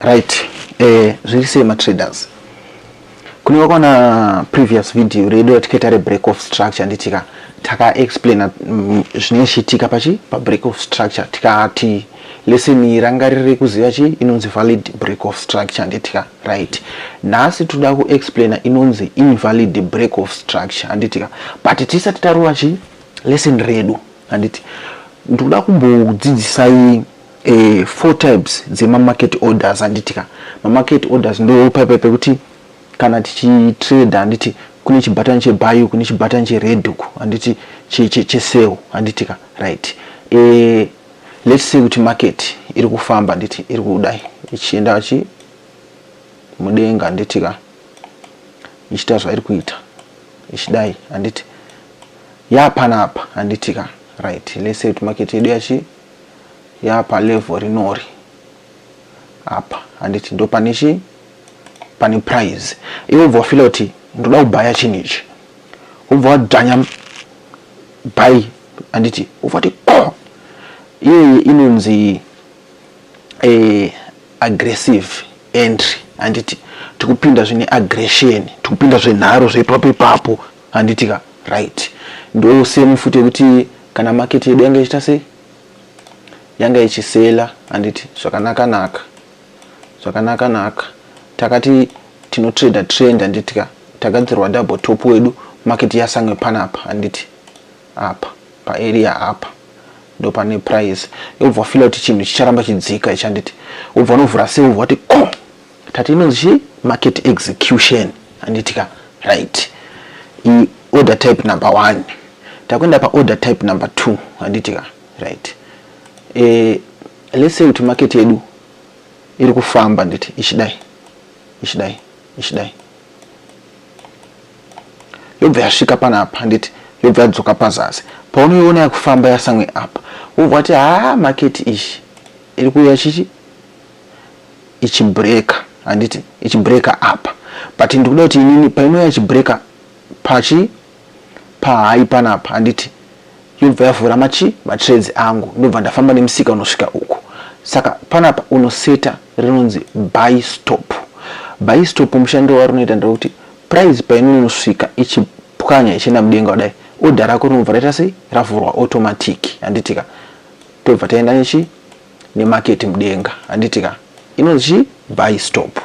Right. Eh, zviri sei ma traders? Kune wakona previous video redu yatikaita re break of structure nditika taka explain mm, zvine chitika pachi pa break of structure tikati lesson iyi ranga riri kuziva chi inonzi valid break of structure nditika right nhasi toda ku explain inonzi invalid break of structure anditika but tisati tarova chi lesson redu anditi ndikuda kumbodzidzisai eh, four types dzemamarket orders handiti ka mamarket orders ndo paipai pekuti kana tichitrade handiti kune chibhatani chebayu kune chibhatani chered uku handiti chesel handiti ka right eh, let's say kuti market iri kufamba handiti iri kudai ichienda chi mudenga handiti ka ichiita zvairi kuita ichidai handiti yapanapa handiti ka right let's say kuti market yedu yachi yapa level rinori apa handiti ndo pane chii pane prize iwe wobva wafila kuti ndoda kubhaya chinhu ichi wobva wadzvanya bhayi handiti wobva wati ko iyoyi inonzi eh, aggressive entry handiti tikupinda zvine aggression tikupinda zvenharo zvepapo ipapo handiti ka right ndo same futi yekuti kana market yedu yanga ichiita sei yanga ichisela handiti zvakanaka naka zvakanaka naka takati tinotrader trend handiti ka tagadzirwa double top wedu market yasange panapa handiti apa paarea apa ndopane price yobva wafila kuti chinhu chicharamba chidzika ichi handiti wobva unovhura sei wobva wati ko oh! tati inonzi chii market execution anditika right i order type number one takuenda paorder type number two anditika right e, let's say kuti market yedu iri kufamba nditi ichidai ichidai ichidai yobva yasvika panapa handiti yobva yadzoka pazasi paunoiona yakufamba yasamwe apa wobva wati haa maketi ichi iri kuuya chichi ichibreaker handiti ichibreaker apa but ndikuda kuti inini painouya ichibreaker pachi pahai panapa handiti yobva yavhura machi matrades angu ndobva ndafamba nemusika unosvika uku saka panapa unoseta rinonzi buy stop buy stop mushando wari unoita ndekuti price painonosvika ichipwanya ichienda mudenga kudai odha rako rinobva raita sei ravhurwa automatic handitika tobva taenda nechi nemarket mudenga handiti ka inonzi chii buy stop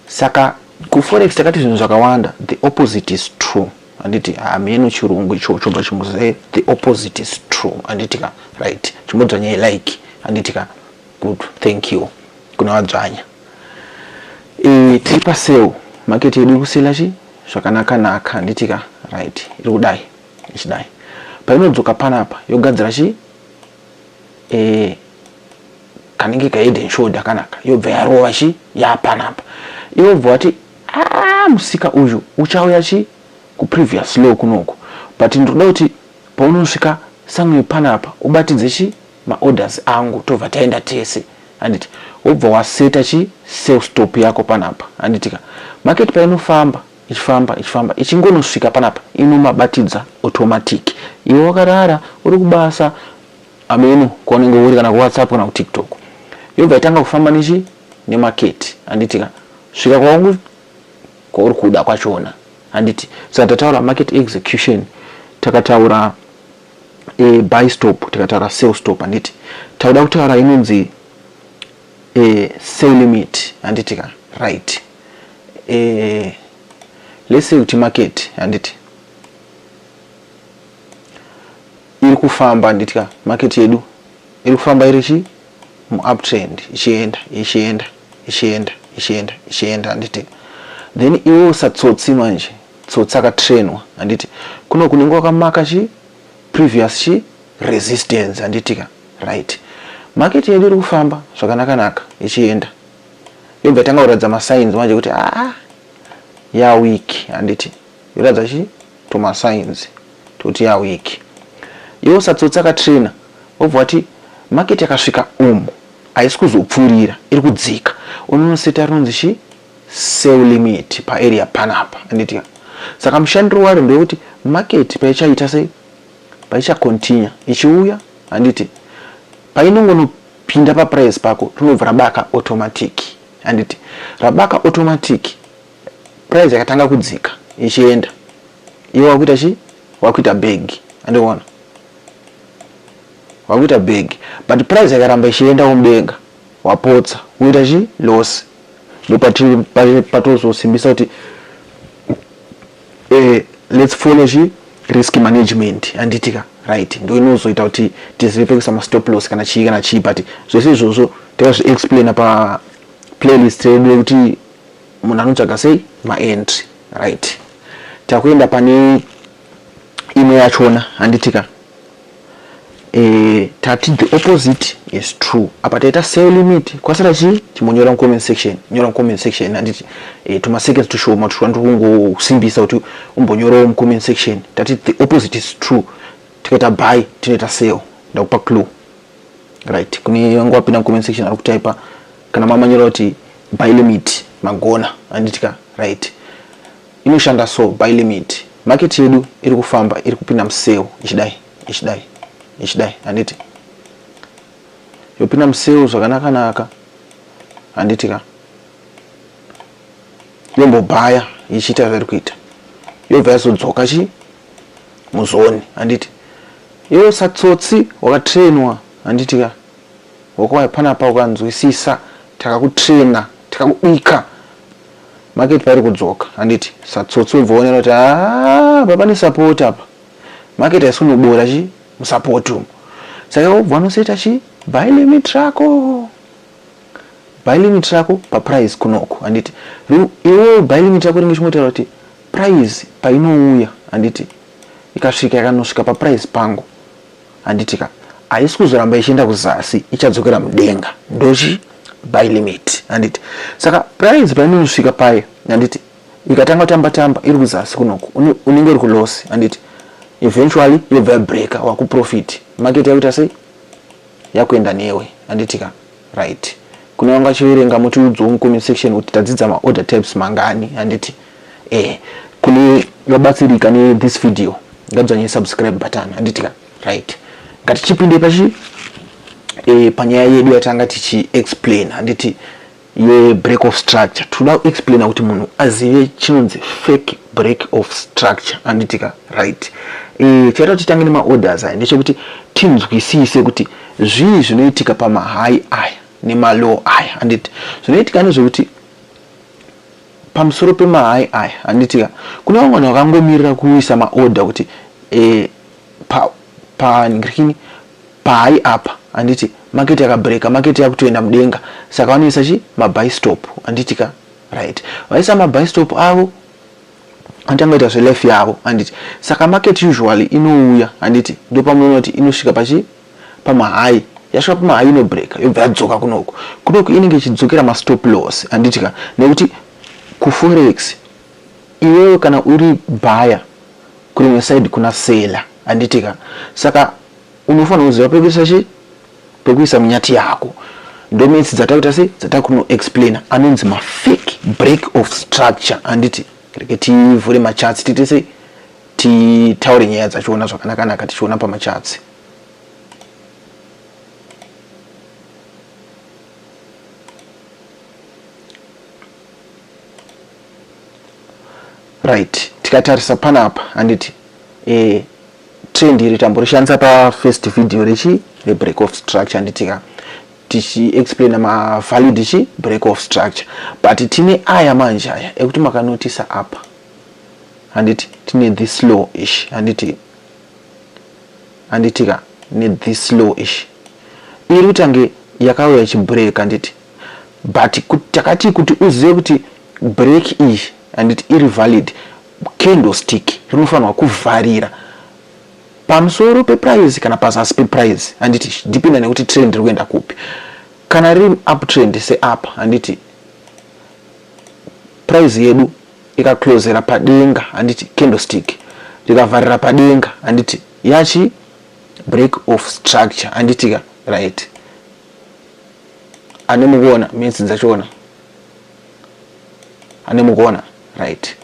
saka kuforex takati zvinhu zvakawanda the opposite is true handiti hameno ah, chirungu icho chobva chimuzee the opposite is true handiti ka right chimodzvanya ilike handiti ka good thank you kuna vadzvanya e, tiri paseu market yedu iri kusela chi zvakanaka naka handiti ka right iri kudai ichidai painodzoka panapa yogadzira chi eh, kanenge kahead and shoulder kanaka yobva yarova chi yapanapa iwe bva wati ah, musika uyu uchauya chi kuprevious low kunoku but ndinoda kuti paunosvika somewhere panapa ubatidze chi maorders angu tobva taenda tese handiti wobva waseta chi sell stop yako panapa handitika market painofamba ichifamba ichifamba ichingonosvika panapa inomabatidza automatic iwe wakarara uri kubasa ameno kwaunenge uri kana kuwhatsapp kana kutiktok yobva itanga kufamba nechi nemaketi handiti ka svika kwauri kwauri kuda kwachona handiti saka tataura market execution takataura e, buy stop tikataura sell stop handiti takuda kutaura inonzi e, sell limit handiti ka right eh, let's say kuti market handiti iri kufamba handiti ka market yedu iri kufamba iri chi muuptrend ichienda ichienda ichienda ichienda ichienda handiti then iwe usatsotsi manje tsotsi akatrainwa handiti kuno kunenge wakamaka chi previous chi resistance handiti ka right market yedu iri kufamba zvakanakanaka ichienda yobva yatanga kuratidza masigns manje kuti aa ah, yaweak handiti yoratidza chi tumasigns tokuti yaweak iwo satsotsi akatraina wobva wati market yakasvika umu haisi kuzopfuurira iri kudzika unonoseta rinonzi chi sell limit paarea panapa handiti saka mushandiro waro ndewekuti market paichaita sei paichacontinue ichiuya handiti painongono Pinda pa price pako rinobva rabaka automatic. Handiti rabaka automatic price yakatanga kudzika ichienda. Iwe wakuita chi? Wakuita bag. Andiona. Wakuita bag but price yakaramba ichienda mudenga wapotsa woita chi loss. Ndipo patiri patozosimbisa kuti Eh let's follow chi risk management handiti ka right ndo inozoita kuti tizive pekuisa mastop loss kana chii kana chii but zvese izvozvo takazviexplaina pa playlist yedu yekuti munhu anotsvaga sei maentry right takuenda pane imwe yachona handitika eh, tati the opposite is true apa taita sale limit kwasara chii chimonyora mucomment section nyora mucomment section handiti eh, tumaseconds tushoma tushona tiri kungosimbisa kuti umbonyorawo mucomment section tati the opposite is true tikaita buy tinoita sale ndakupa clue right kune vanga wapinda mucomment section ari kutaipa kana mamanyora kuti buy limit magona handitika right Inoshanda so buy limit. Market yedu iri kufamba iri kupinda museo ichidai ichidai ichidai handiti yopinda museo zvakanaka naka handiti ka yombobhaya ichiita zvairi kuita yobva yazodzoka chi muzoni handiti iwe satsotsi wakatrainwa handiti ka wakwaya panapa ukanzwisisa takakutraina tikakubika Market pairi kudzoka handiti satsotsi wobva wonera kuti haa baba ne support apa market haisi kunobora chi musupport umu saka wobva wanoseta chi buy limit rako buy limit rako paprice kunoko handiti iwe buy limit rako ringe chingotaura kuti price painouya handiti ikasvika yakanosvika paprice pangu handiti ka haisi kuzoramba ichienda kuzasi ichadzokera mudenga ndochi by limit handiti saka price painonosvika paye handiti ikatanga kutamba tamba iri kuzasi kunoku unenge uri kulosi handiti eventually yobva yabreaker wakuprofit market yakuita sei yakuenda newe handiti ka Right. Kune vanga vachiverenga mutiudzwo mucomment section kuti tadzidza maorder types mangani handiti eh kune vabatsirika ne this video ngadzvanye subscribe button handiti ka right ngatichipinde pachi eh panyaya yedu yatanga tichi explain handiti ye break of structure toda kuexplaina kuti munhu azive chinonzi fake break of structure handiti ka right e, eh, chaita titange nemaorders aya ndechekuti tinzwisise kuti Zvii zvinoitika pamahai aya nemalow aya handiti zvinoitika nezvekuti pamusoro pemahai aya handitika kune vamwe vanhu vakangomirira kuisa maorder kuti e, pa, pa, ndikini pahai apa handiti maketi yakabreka maketi yakutoenda mudenga saka vanoisa chi mabystop handitika right vaisa mabystop avo atangoita zvelife yavo handiti saka market usually inouya handiti ndopamunoti inosvika pachi pamahai yasvika pamahai inobreaka yobva yadzoka kunoku kunoku inenge ichidzokera mastop loss handiti ka nekuti kuforex iwewe kana uri baya kurimwe side kuna sela handiti ka saka unofanira kuziva pekuisa chii pekuisa munyati yako ndometsi dzatakuita sei dzatakuno explaina anonzi mafake break of structure anditi reke tivhure machatsi tiite sei titaure nyaya dzachiona zvakanakanaka tichiona pamachatsi right tikatarisa panapa handiti e eh, trend iri tamborishandisa pafirst video rechi rebreak of structure nditika tichiexplaina mavalue dichi break of structure but tine aya manje aya ekuti makanotisa apa handiti tine this low ish handiti handitika ne this low ish iri kutange yakauya chibreak handiti but takatii kuti uzive kuti break iyi handiti iri valid candlestick rinofanirwa kuvharira pamusoro peprice kana pazasi peprice handiti dependa nekuti trend riri kuenda kupi kana riri uptrend seapa handiti price yedu ikaclosera padenga handiti candlestick rikavharira padenga handiti yachi break of structure handitika right ane mukuona minsi dzachiona ane mukuona right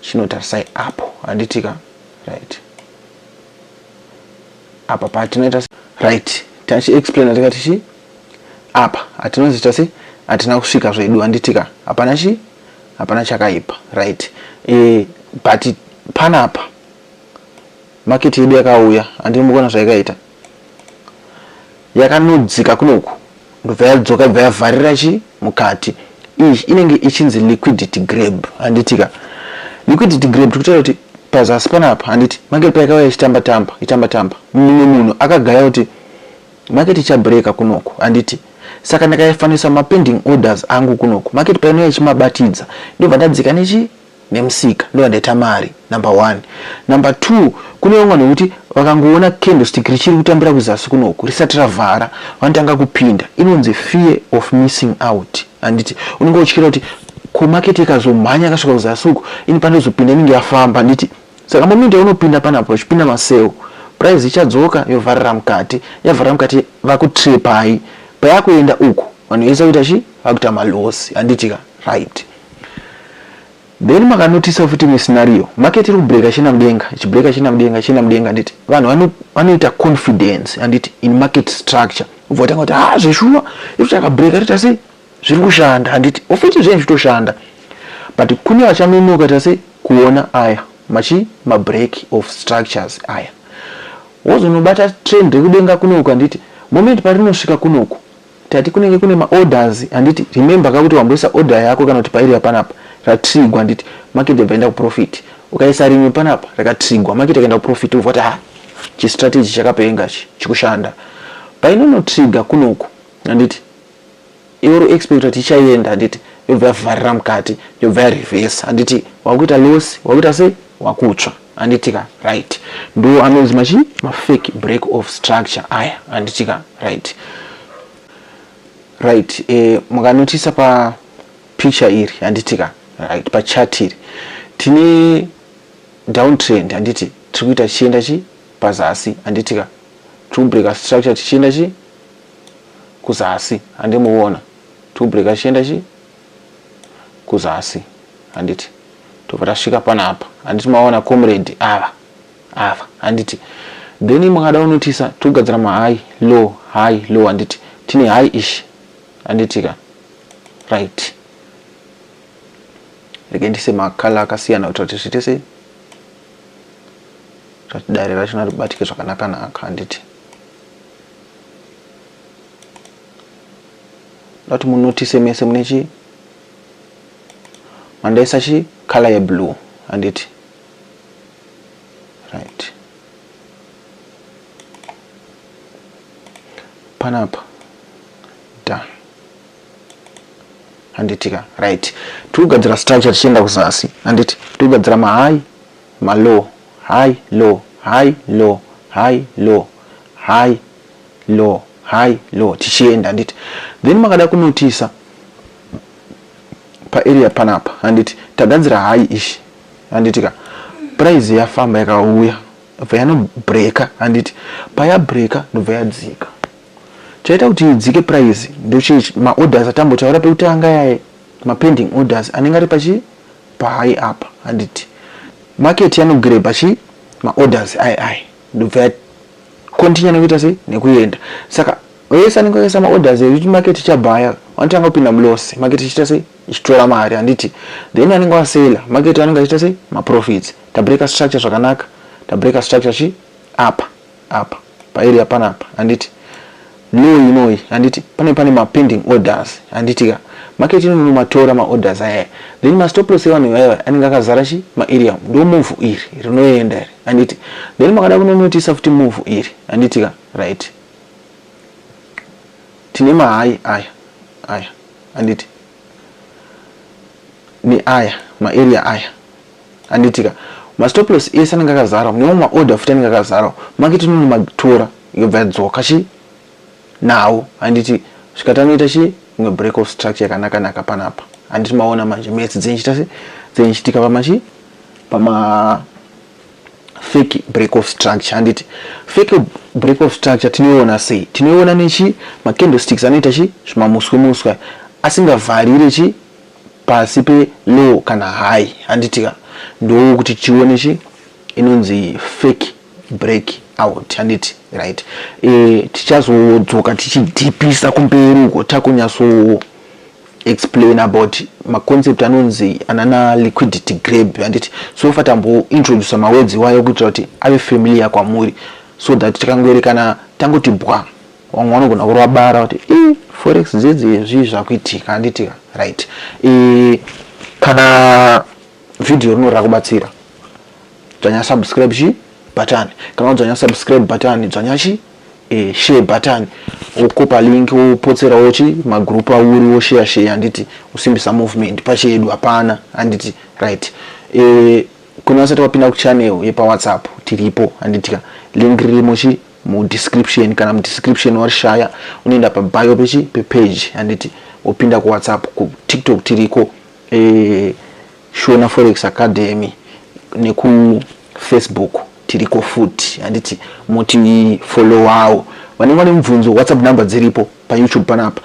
chinotarisai apo handitika right apa patinoita right tachiexplaina tikati chii apa hatinozoita sei hatina kusvika zvedu handitika hapana chii hapana chakaipa right e, but panapa maketi yedu yakauya handiri mukuona zvaikaita Yakanodzika kunoku ndobva yadzoka ibva yavharira chi mukati. Iyi inenge ichinzi liquidity grab handiti ka. Liquidity grab tikutaura kuti pazasi panapa handiti market paikauya ichitamba tamba itamba tamba mumwe munhu akagaya kuti market ichabreaker kunoku handiti saka ndakaifanisa mapending orders angu kunoku market painouya ichimabatidza ndobva ndadzika nechi nemusika ndovandaita mari number one number two kune vamwe vanhu vekuti vakangoona candlestick richiri kutambira kuzasi kunoku risati ravhara vanotanga kupinda inonzi fear of missing out handiti unenge utyira kuti ko market ikazomhanya akasvika kuzasi uku ini pandozopinda inenge yafamba handiti saka momindi yaunopinda panapo vachipinda maseu price ichadzoka yovharira mukati yavharira mukati vakutrepai payakuenda uku vanhu vese vakuita chi vakuita malosi handitika right Then makanotisa futi imwe scenario market iri kubreaker china mudenga ichibreaker china mudenga china mudenga handiti vanhu vanoita confidence handiti in market structure ubva vatanga kuti ha ah, zveshuwa iri takabreaker iri tase zviri kushanda handiti ofiti zvenyu zvitoshanda but kune vachanonoka tase kuona aya machi mabreak of structures aya wozonobata trend rekudenga kunoku handiti moment parinosvika kunoku Tati kunenge kune ma orders handiti remember ka kuti wamboisa order yako kana kuti pairi yapanapa ratrigwa handiti market yabva yaenda kuprofit ukaisa rimwe panapa rakatrigwa market yakaenda kuprofit wobva kuti ha chistrategy chakapenga chi chikushanda painonotriga kunoku handiti iwe uri expect kuti ichaienda handiti yobva yavharira mukati yobva yarevesa handiti wakuita loss wakuita sei wakutsva anditika right ndo anonzi machi mafake break of structure aya anditika right right e, mukanotisa pa picture iri anditika right pa chat iri tine down trend anditi tiri kuita tichienda chi pazasi anditika tiri kubreaka structure tichienda chi kuzasi andimuona tiri kubreaka tichienda chi kuzasi handiti tobva tasvika panapa handiti maona comrade ava ava handiti then mukada unotisa togadzira mahigh low high low handiti tine high ish handiti ka right rege ndise makala akasiyana kuitira kuti zviite sei zvati dare rachona ribatike zvakanaka naka handiti ndati munotise mese mune chi mandaisa chi color ye blue handiti right panapa done handitika right tiri kugadzira structure tichienda kuzasi handiti tiri kugadzira mahigh malow high low high low high low high low high low tichienda handiti then makada kunotisa paarea panapa handiti tagadzira high ishi handiti ka price yafamba yakauya ndobva yanobreka handiti payabreka ndobva yadzika chaita kuti idzike price ndochii maorders atambotaura pekutanga yaye mapending orders anenge ari pachi pahigh apa handiti market yanogrebha chi maorders ai ai ndobva yakontinya nekuita sei nekuenda saka vese anenge akaisa maorders ekuti market ichabhaya vanotanga kupinda muloss market ichiita sei ichitora mari handiti then anenge wasela market anenge achiita sei maprofits tabreaker structure zvakanaka tabreaker structure chi apa apa paeria panapa handiti Loyi inoyi handiti pane pane ma pending orders handiti ka market inono matora ma orders aya then ma stop loss evanhu ivaiva anenge akazara chi ma area ndo move iri rinoenda iri handiti then makada kunonotisa futi move iri handiti ka right tine ma high aya aya handiti ne aya ma area aya handitika mastoplos ese anenge akazarwa newo maorder futi anenge akazarwa maketi inono matora yobva yadzoka chi nawo handiti svikati anoita chi imwe break of structure yakanaka naka panapa handiti maona manje mets dzenchita se dzenchitika pamachi pama fake break of structure handiti fake break of structure tinoiona sei tinoiona nechi macandlesticks anoita chi zvimamuswe muswe asingavharire chi pasi pe law kana hayi handiti ka ndoo kuti tione chi inonzi fake break out handiti right e, tichazodzoka tichidhipisa kumberi uko takunyatso explain about maconcept anonzi anana liquidity grab handiti so fa tambointroduce mawedzi iwayo kuitira kuti ave familiar kwamuri so that tikangoerekana tangoti bwa vamwe vanogona kurova bara kuti i forex dzedze zvii zvakuitika anditika right i kana vhidhiyo rino rakubatsira dzvanya subscribe chi button kana wadzvanya subscribe button dzvanya chi e, share button wokopa link wopotserawo chi magroup auri wosheya sheya handiti usimbisa movement pachedu hapana handiti right e, kuna vasati wapinda kuchannel yepawhatsapp tiripo handitika link ririmo chi mudescription kana mudescription warishaya unoenda pabio pechi pepage handiti wopinda kuwhatsapp kutiktok tiriko e, shona forex academy nekufacebook tiriko futi handiti moti followawo vanenge vane mubvunzo whatsapp number dziripo payoutube panapa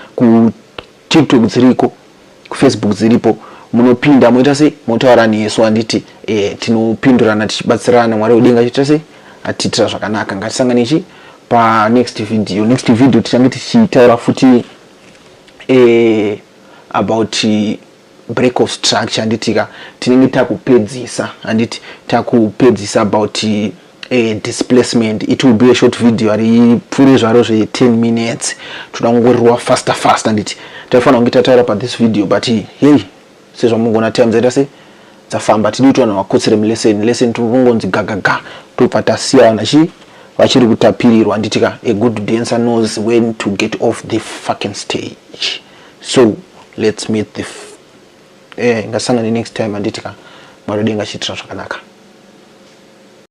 tiktok dziriko kufacebook dziripo munopinda moita sei motaura nesu handiti e, tinopindurana tichibatsirana mwari wedenga chiita sei atiitira zvakanaka ngatisangane chi panext video next video tichange tichitaura futi e, about break of structure handitika tinenge takupedzisa handiti takupedzisa about eh, displacement it will be a short video haripfuure zvaro zve10 minutes toda kungorerwa faster faster nditi taifanira kunge tataura pathis video but hey sezvamungona time dzaita se dzafamba tidi kuti vanhu vakotsere muleseni leseni tikungonzi gagaga tobva tasiya vanhu chi vachiri kutapirirwa nditika a good dancer knows when to get off the fucking stage so let's meet the eh, ngasangane next time anditika mwari denga chiitira zvakanaka